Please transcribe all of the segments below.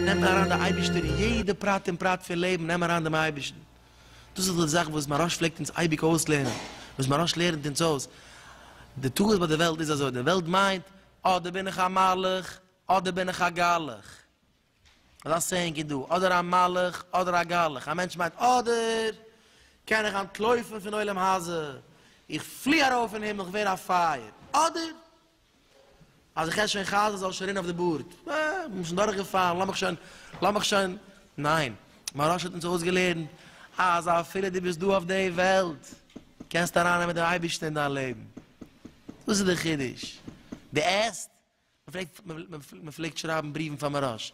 נעם אריין די אייבערשטער אין יעדע פרט און פרט פון לעבן, נעם אריין דעם אייבערשטן. דאס איז דאך די זאך וואס מהרש פלעגט אונז אייביג אויסלערנען, וואס מהרש לערנט אונז אויס, די טעות ביי די וועלט איז אזוי, די וועלט מיינט, אדער בין איך א מלאך, אדער בין איך א גלח. אזא סעיאינג איז דא, אדער א מלאך, אדער א גלח. א מענטש מיינט, אדער קען איך אנטלויפן פון עולם הזה, איך פלי ארויף אין הימל, איך ווער א פייער. אדער. אז איך עס שוין חזן זאל עס שוין רינען אויף די בארד, אה, איך בין שוין דורך געפאלן, לאמיך שוין, לאמיך שוין, ניין, מהרש האט אונז אויסגעלערנט אז אפילו דו ביסט דא אויף די וועלט קענסטו אריין נעמען דעם אייבערשטן אין דיין לעבן, דאס איז די חידוש, די עסט, מען פלעגט שרייבן בריוון פאר מהרש,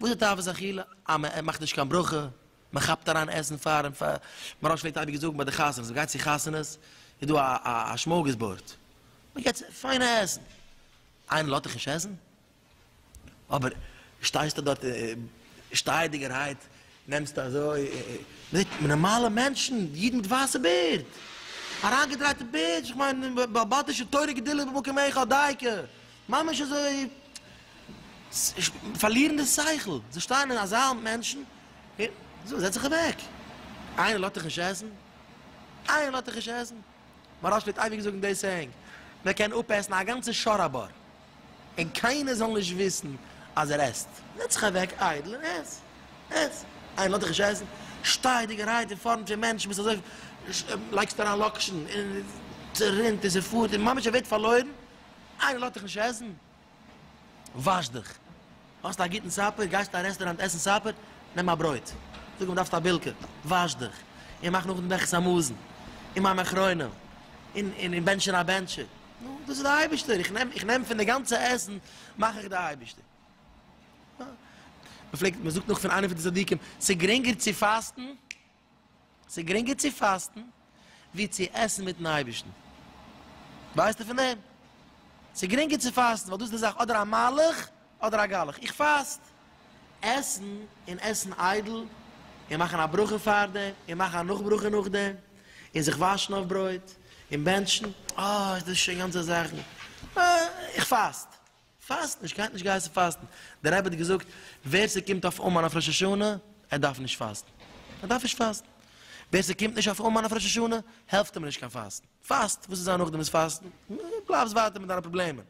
וואס איז די תאוות אכילה? אז מען מאכט נישט קיין ברכה, מען כאפט אריין עסן פאר און פאר, מהרא ש פלעגט אייביג זאגן ביי די חתונות, מען גייט צו חתונות איז דא א שמארגעס בארד, מען געט פיינע עסן, איינער לאזט דיך נישט עסן? אבער שטייסטו דארט שטייעדיגערהייט נעמסט אזוי נארמאלע מענטשן, אידן מיט ווייסע בערד, אריינגעדרייטע בערד, איך מיין בעל בתי'שע תורה גדולה במקום היכל דייקא, ממש אזוי פארלירן די שכל, זיי שטייען אין א זאל מענטשן, זאג זעץ זיך אוועק, איינער לאזט דיך נישט עסן? איינער לאזט דיך נישט עסן? מהרא ש פלעגט אייביג זאגן די סעיאינג, מען קען אפעסן א גאנצע שור א בור, און קיינער זאל נישט וויסן אז ער עסט. זעץ זיך אוועק איידל און עס, עס. איינער לאזט דיך נישט עסן? שטיי דיגערהייט אין פארנט פון מענטשן, ביסט אזוי, לייגסט אריין לאקשן און ס'רינט און ס'פארט און ממש ער ווערט פארלוירן, איינער לאזט דיך נישט עסן? וואש דיך. האסט א גוטן סאפער? גייסט אין א רעסטוראנט עסן סאפער? נעם א ברויט. זאג אים דארפסט א בילקע. וואש דיך. און מאך נאכדעם דעכעס א מאזן. און מים אחרונים. און בענטשן א בענטשער. נו, דאס איז די אייבישטער. איך נעם, איך נעם פון די גאנצע עסן מאך איך די אייבישטער. מ'פלעגט, מ'זאגט נאך פון איינער פון די צדיקים, ס'גרינגער צו פאסטן. ס'איז גרינגער צו פאסטן ווי צו עסן מיטן אייבערשטן. ווייסטו פון דעם? ס'איז גרינגער צו פאסטן ווייל דאס איז די זאך אדער א מהלך אדער א גלח. איך פאסט. עסן און עסן איידל און מאכן א ברכה פאר דעם און מאכן א נאך ברכה נאך דעם און זיך וואשן אויף ברויט און בענטשן, אה, איז דאס שוין גאנצע זאכן. אה, איך פאסט. פאסטן, נישט קיינט נישט געהייסן פאסטן, דער רבי האט געזאגט ווער ס'קומט אויף אומאן אויף ראש השנה ער דארף נישט פאסטן, ער דארף נישט פאסטן, ווער ס'קומט נישט אויף אומאן אויף ראש השנה העלפט אים נישט קיין פאסטן, פאסט, וואס איז זיין נאכדעם איז פאסטן, בלייבסט ווייטער מיט דיינע פראבלעמען,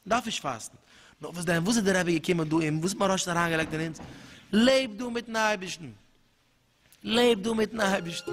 דארף נישט פאסטן, נאר וואס דען, וואס איז דער רבי געקומען דא און וואס האט מוהרא ש אריינגעלייגט אין אונז, לעב דא מיטן אייבערשטן. לעב דו מיטן אייבערשטן.